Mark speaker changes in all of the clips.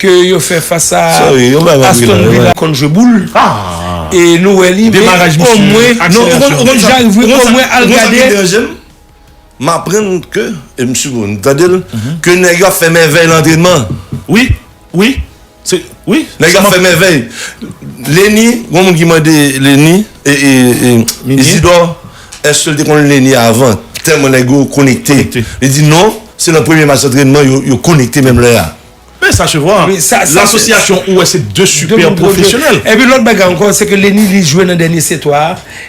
Speaker 1: ke yo fè fas a Aston Villa konn jwe boul e nou wè li men omwen non ou konn jan rive wi omwen al gade. M aprann
Speaker 2: ke e m si m tande l ke nèg yo ap fè mèvèy nan antrenman wi
Speaker 3: wi se wi
Speaker 2: nèg yo ap fè mèvèy Lenny gon moun ki mande Lenny Isidor eske l te konn Lenny avan tèlman nèg yo konekte li di non se nan premye match antrenman yo konekte menm lè a. Men sa se
Speaker 3: vwa, l'association ou wè se 2 super professionnel. E pi lòt bagay ankò
Speaker 1: se ke Lenny li jwe nan dènye se 3 a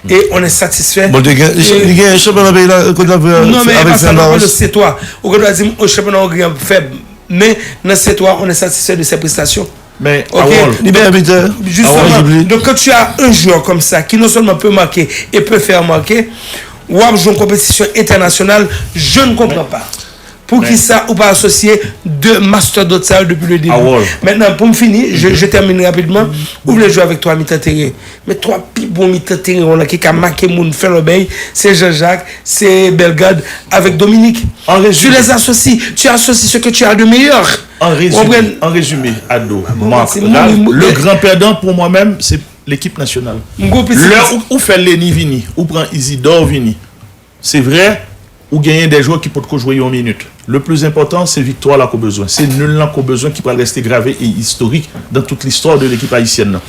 Speaker 1: e on est satisfè. Bon li gen li gen
Speaker 2: yon chanpyona peyi la kot lap jwe a Non men e pa sa
Speaker 1: mwen pale se 3. Ou gen dwa di m o chanpyona Ongri an fèb men nan se 3 on est satisfè de ses prestations. Men Harold
Speaker 3: Li meyè bitè
Speaker 1: Harold Jubly. Donk kan tu a un jwè kòm sa ki non sèlman pe make e pe fè remarke wap jwe yon konpetisyon entènasyonal je ne konpran pa. Poukisa ou pa asosye 2 mastodot sa yo depi le debi? Mentnan poum fini, je termine rapidman, ou vle jwe avek 3 mitan teren. Men 3 pi bon mitan teren yo lan ki ka make moun, fè lòbèy, se Jean Jacques, se Bellegarde avek Dominique. Tu les associes, tu associes ce que tu as de meilleur. An rezime,
Speaker 3: an rezime Ado, Marc, Ralph, le grand perdant pou mwen menm se lekip nasyonal. Lè ou fè Lenny vini, ou pran Isidore vini. Se vre, ou genyen de jwè ki potko jwe yon minit. Le pli enpòtan, se viktwa la k'ou bezwen. Se nul lan k'ou bezwen ki pral reste grave e istorik dan tout listwa de lekip ayisyèn lan.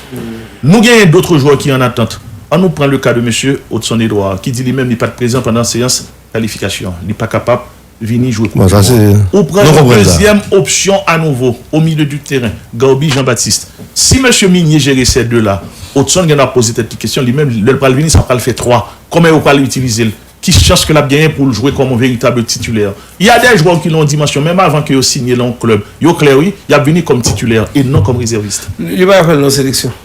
Speaker 3: Nou genyen dotre jwè ki an atant. An nou pran le ka de mesye Odson Edouard, ki di li menm li pat prezan pandan seyans kalifikasyon an. Li pa kapab. Vini jwe koup du mond. Ou pran yon dezyèm opsyon a nouvo o milieu du terrain, Garby Jean Baptiste. Si mesye Migné jere sè 2 la, Hodgson gen dwa ap poze tèt li kesyon li menm, lè l pral vini sa pral fè 3, kòman yo pral itilize l? Ki chans ke l ap genyen pou l jwe kòm yon veritab titulaire? Il y a des joueurs ki lan yon dimansyon menm avan ke yo sinye lan yon klèb, yo klè wi, y ap vini kòm titulaire e non kòm rezèvist. Li pa ka fè l lan
Speaker 1: seleksyon.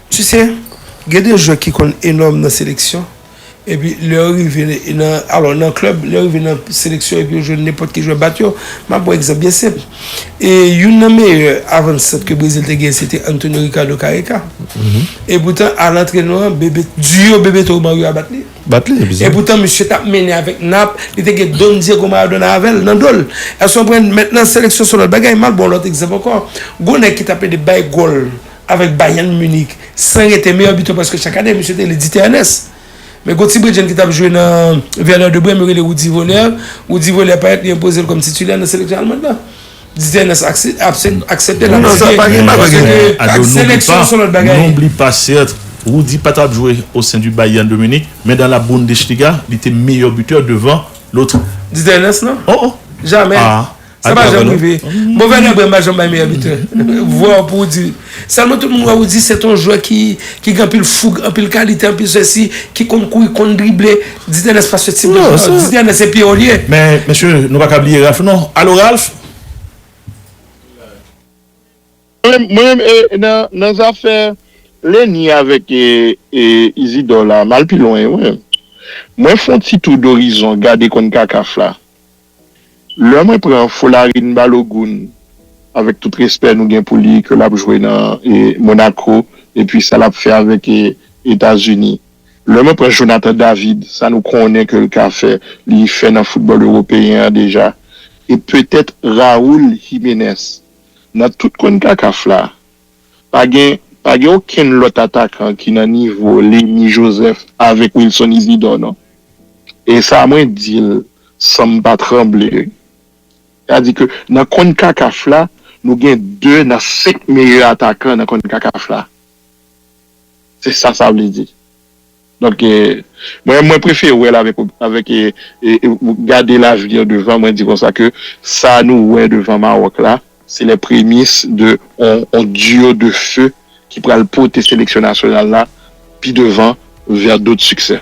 Speaker 1: Tu se, gen de jwè ki konn enòm nan seleksyon, epi lè yo rive nan, alò nan klèb, lè yo rive nan seleksyon epi yo jwenn nenpòt ki jwè bat yo. M ap pran egzanp byen senp. E youn nan meyè avan sant ke Brezil te genyen se te Antonio Ricardo Careca. E poutan a lantrenò an, Bebe, duo Bebeto Romario a bat li. Bat li, ebyen. E poutan misye t ap mennen avèk Nap, li te gen Don Diego Maradona avè l, nan do l. Èske w konprann? Mèt nan seleksyon se yon lòt bagay. M al ban w lòt egzanp ankò. Gon nèg ki t ap ede bay gòl. avèk Bayern Munich san rete, meyè bitè prèske chak ane misye te li Dite Ernest. Men gon ti bredjenn ki t ap jwe nan Werder de Brem yo rele Rudi Voller, Rudi Voller parèt li enpoze l kòm titulè nan seleksyon almand lan. Dite Ernest aksepte l ap site paske ke ak seleksyon son lòt bagay.
Speaker 3: Rudi pa t ap jwe o sen di Bayern de Munich men dan la Bundesliga li te meyè bitè devan lotr. Dite Ernest non.
Speaker 1: Jamè. Sa pa janm rive. Move lè Brem pa janm bay meyè bitè. Vwa w pou w di. Sèlman tout moun wè ou di se t on jwè ki gen anpil foug, anpil kalite, anpil sesi, ki konn kouri, konn drible. Didi Ernest pa se tip de jwè sa. Didi Ernest se piyò li ye. Men, mesye, nou pa
Speaker 3: ka bliye Ralph non. Alo Ralph?
Speaker 4: Mwen menm e nan zafè Lenny avèk Isidor la, m al pi lwen wi. Mwen fon ti tou dorizon gade konn Kakaf la. Lè mwen pran Folarin Balogun, avèk tout respè nou gen pou li, ke l ap jwe nan Monaco, epi sa l ap fè avèk Etazini. Lè mwen pran Jonathan David, sa nou konnen ke l ka fè, li fè nan foutbòl ewopeyen an deja. E petèt Raul Jimenez. Nan tout Concacaf la, Pa gen pa gen okenn lòt atakan ki nan nivo Lemy Joseph avèk Wilson Isidor non. E sa mwen di l san m pa tranble wi. Sa di ke nan Concacaf la nou gen 2 nan 5 meyè atakan nan Concacaf la. Se sa sa vle di. Donk mwen mwen prefere wèl avèk avèk gade l'avenir devan mwen di konsa ke sa nou wè devan Maroc la se les prémices de on duo de feu ki pral pote seleksyon nasyonal la pi devan vers d'autres succès.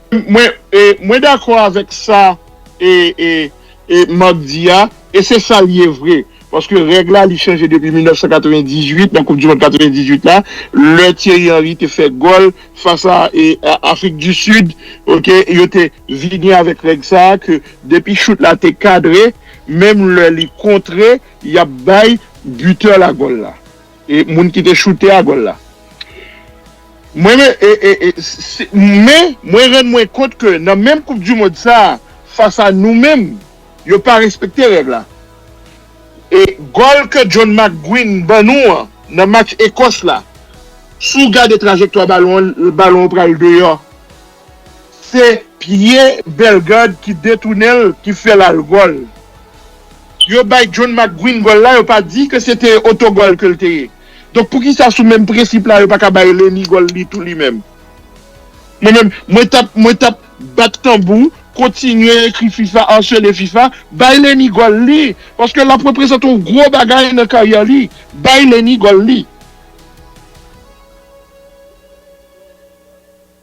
Speaker 4: Mwen Mwen dakò avèk sa Marc di a e se sa l ye vre paske règ la li chanje depi 1998 nan koup di mond 98 la lè Thierry Henry te fè gòl fas a Afrik di Sid ok yo te vini avèk règ sa ke depi chout la te kadre menm lè li kontre y ap bay bitè la gòl la E moun ki te choute a gòl la. Mwen men mwen rann mwen kont ke nan menm koup du mond sa fas a nou menm yo pa respekte règ la. E gòl ke John McGuinn ban nou an nan match Ekòs la si w gade trajektwa balon an balon an pral deyò Se pye Bellegarde ki detounenl ki fèl al gòl. Yo bay John McGuinn gòl la yo pa di ke se te otogòl ke l te ye. Donk poukisa sou menm prensip la yo pa ka bay Lenny gòl li tou li menm. Mwen menm mwen tap mwen tap bat tanbou kontinye ekri fifa arsele fifa bay Lenny gòl li paske lap reprezante yon gwo bagay nan karyè li bay Lenny gòl li.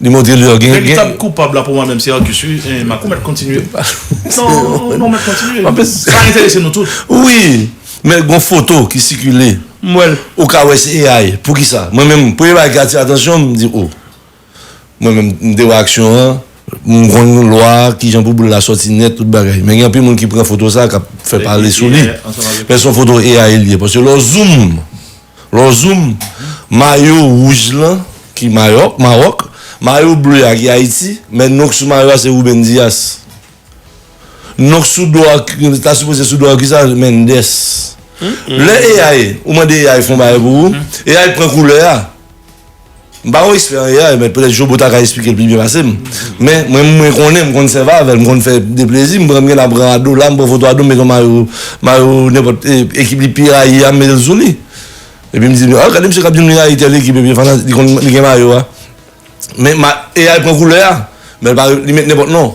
Speaker 2: Li montre li gen. Veritab koupab la pou mwen
Speaker 3: menm se Arcus wi, eh Marc ou mèt kontinye. Non, ou mèt kontinye. Sa enterese nou tout. Wi,
Speaker 2: men gon foto ki sikile. M wè l. Ou ka
Speaker 1: wè se
Speaker 2: AI. Poukisa? Mwen menm, premye bagay ki atire atansyon m, m di oh. Mwen menm, m te wè aksyon an, m konn lwa kijan pou boul la sòti nèt tout bagay. Men gen anpil moun ki pran foto sa k ap fè pale sou li. Men se yon foto AI li ye. Paske lè w zoom Lè w zoom, mayo wouj lan ki Mayòk, Maròk, mayo ble a ki Ayiti, men non k sou mayo a se Ruben Dias. Non k sou do a ki ta sipoze sou do a ki sa? Mendes. Lè AI, ou mande AI fè yon bagay pou ou, AI pran koulè a. M pa yon espè an AI men petèt Jobo ta ka esplike l pi byen pase m. Men, mwen mwen konnen, m konn sèvi avè l, m konn fè de plezi, m pran m gen tan pran Ado la, m pran foto Ado m met yon mayo mayo nenpòt ekip li pi rayi a m met l sou li. Epi m di m, ah gade misye k ap di m li rayi tèl ekip epi fana li konn li gen mayo a. Men ma AI pran koulè a, men l pa li met nenpòt non.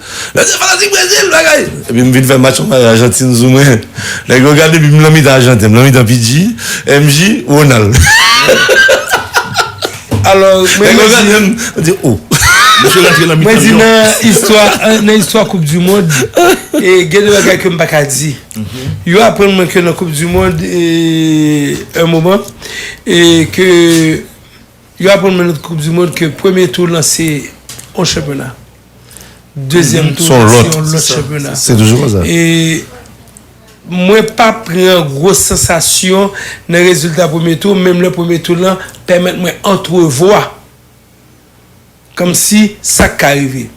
Speaker 2: Mwen se fanatik Brezil bagay. Epi m vin fè match anba Ajantin sou mwen. Nèg yo gade epi m lan mitan Ajanten. M lan mitan PG, MJ, Ronald.
Speaker 1: Alò mwen Nèg yo gade m, yo
Speaker 2: di oh. Misye rantre nan mitan Lyon. Mwen
Speaker 1: di nan istwa, nan istwa koup du mond, e gen de bagay ke m pa ka di. Yo aprann mwen ke nan koup du mond e un moment e ke Yo aprann mwen nan koup di mond ke premye tou lan se yon chanpyona, dezyèm tou lan se yon lòt chanpyona. Se toujou konsa. E mwen pa pran gwo sansasyon nan rezilta premye tou, menm lè premye tou lan pèmèt mwen antrevwa. Kòmsi sa ka rive?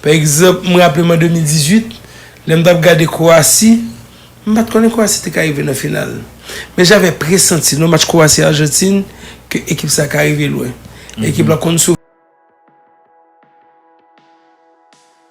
Speaker 1: Pa egzanp, m raple m an 2018, lè m t ap gade Kwowasi, m pa t konnen Kwowasi te ka rive nan final. Men javè presanti nan match Kwowasi-Arjantin ke ekip sa ka rive lwen. Ekip la konn sou.